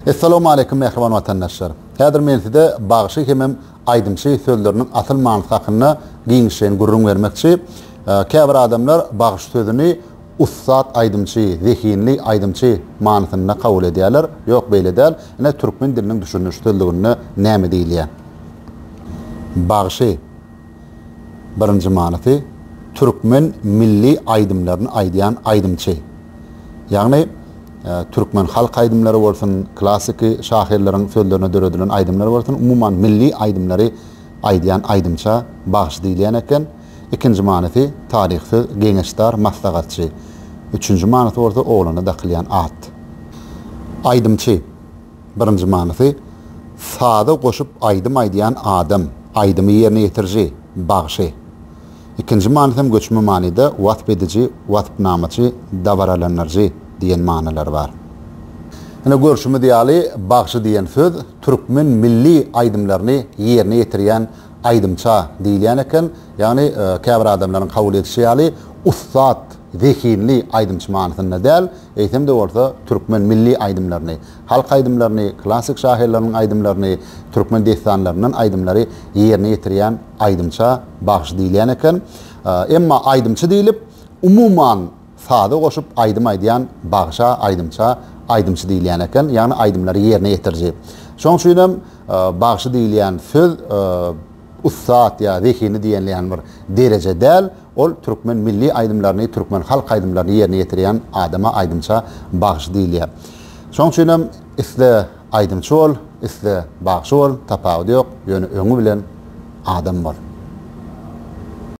Essalamualeýkum mähriban watandaşlar! Häzir men size bagşy hemem aýdymçy sözleriniň asyl manysy hakynda giňişleýin gürrüň bermekçi. Käbir adamlar bagşy sözüni ussat aýdymçy, zehinli aýdymçy manysynda kabul edýärler. Ýok, beýle däl. Ine, türkmen diliniň düşündiriş sözlüginde näme diýilýär? Bagşy, birinji manysy, türkmen milli aýdymlaryny aýdýan aýdymçy. Ýagny. Türkmen halk aýdymlary bolsun, klassyky şahyrlaryň sözlerine döredilen aýdymlar bolsun, umuman milli aýdymlary aýdýan aýdymça bagşy diýilýän eken. Ikinji manysy, taryh söz, geňeşdar, maslahatçy. Üçünji manysy bolsa oglana dakylýan at. Aýdymçy. Birinji manysy, saza goşup aýdym aýdýan adam, aýdymy ýerine ýetiriji, bagşy. Ikinji manysy hem göçme manyda wasp ediji, waspnamaçy, dabaralandyryjy diýen manylary bar. Ine, görşümiz ýaly, bagşy diýen söz türkmen milli aýdymlaryny ýerine ýetirýän aýdymça diýilýän eken. Ýagny, käbir adamlaryň kabul edişi ýaly, ussat, zehinli aýdymçy manysynda däl, eýsem-de bolsa, türkmen milli aýdymlaryny, halk aýdymlaryny, klassyk şahyrlarynyň aýdymlaryny, türkmen dessanlaryndan aýdymlary ýerine ýetirýän, Aýdymça bagşy diýilýän eken. Emma aýdymçy diýlip, umuman, saza goşup aýdym aýdýan bagşa, aýdymça, aýdymçy diýilýän eken, ýagny aýdymlary ýerine ýetiriji. Şoň üçin hem bagşy diýilýän söz ussat ýa zehini diýilýän bir dereje däl, ol türkmen milli aýdymlaryny, türkmen halk aýdymlaryny ýerine ýetirýän adama aýdymça bagşy diýilýär. Şoň üçin hem isle Aýdymçy bol, isle bagşy bol tapawudy ýok, ýöne öňi bilen adam bol.